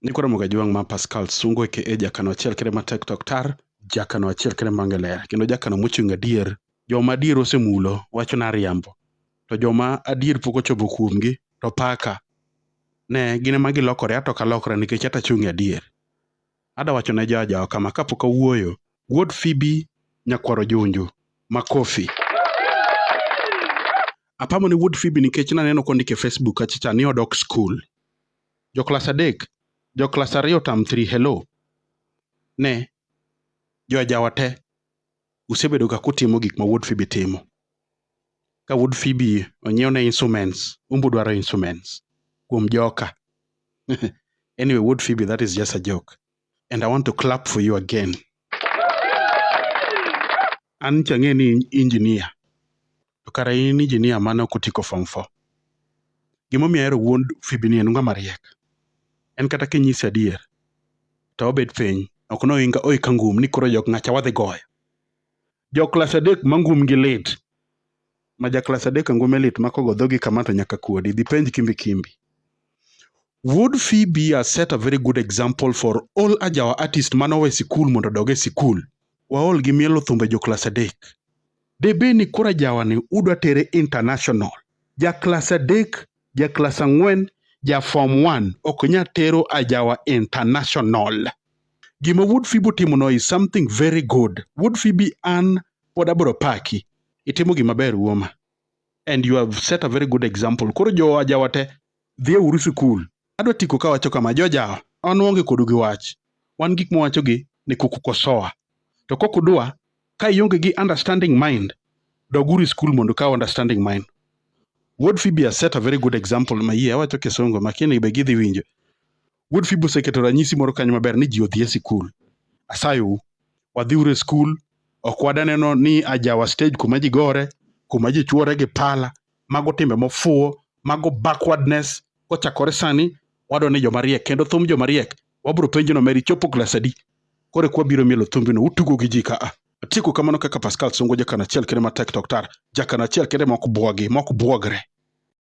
Niko Ramogi Ajwang' ma Pascal Sungu aka jakano achiel kende ma Tek Tok Tar, jakano achiel kende ma Ngelera kendo jakano mochung' adier. Joma adier osemulo wacho nariambo, to joma adier pok ochopo kuomgi to paka. Ne, gin ema gilokore ato ok alokra nikech ato achung' e adier. Ada wacho ne joajawa kama kapok awuoyo, Wuod Phoebe Nyakwar Ojunju, makofi. Apamo ne Wuod Phoebe nikech naneno kondik e Facebook kacha cha ni odok skul. Jo klas adek, jo klas ariyo term three hello. Ne, jo ajawa te, usebedo ga kutimo gik ma wuod Phoebe timo. Ka wuod Phoebe onyiew ne instruments, un be udwaro instruments kuom joka. Anyway, wuod Phoebe that is just a joke. and I want to clap for you again. An chang'e ni injinia, to kara in injinia mane ok otiko form four. Gimomiyo ahero wuon Phoebe ni en ng'a mariek. En kata kinyise adier, to obet piny, ok ne oinga oika ngum ni koro jok ng'acha wadhi goyo. Jo klas adek ma ngum gi lit, ma ja klas adek ngume lit ma kogo dhogi kama to nyaka kuodi, dhi penj Kimbi Kimbi. Would Fee be a set a very good example for all ajawa artist mane owe sikul mondo odog e sikul? Waol gi mielo thumbe jo klas adek. Debe ni koro ajawani udwa tere international. Ja klas adek, ja klas ang'wen, ja form one ok nya tero ajawa international. Gima Wood Fee botimono is something very good. Wood Fee be an pod abro paki. Itimo gima ber wuoma. And you have set a very good example. Koro jo ajawa te Dhie uru sikul. Adwa tiko kawacho kama, jojawa, wan waonge kodu gi wach. Wan gik mwawachogi ni kukukosoa. To kok udwa, ka ionge gi understanding mind, dog uru e sikul mondo ikaw understanding mind. Wuod Phoebe has set a very good example mayie awacho kisungu makini be gidhi winjo. Wuod Fibi oseketo ranyisi moro kanyo maber ni ji odhi e sikul. Asayou, wadhiuru e skul, ok wadaneno ni ajawa stage kuma ji gore, kuma ji chwore gi pala, mago timbe mofuwo, mago backwardness. Kochakore sani, wadwaro ni joma riek, kendo thum joma riek, wabiro penjo nomera ichopo klas adi? Koro eka wabiro mielo thumbino, utugo gi ji ka a. Atieko kamano kaka Pascal Songo, jakan achiel kende matek to ok tar, jakan achiel kende ma ok bwogi, ma ok bwogre.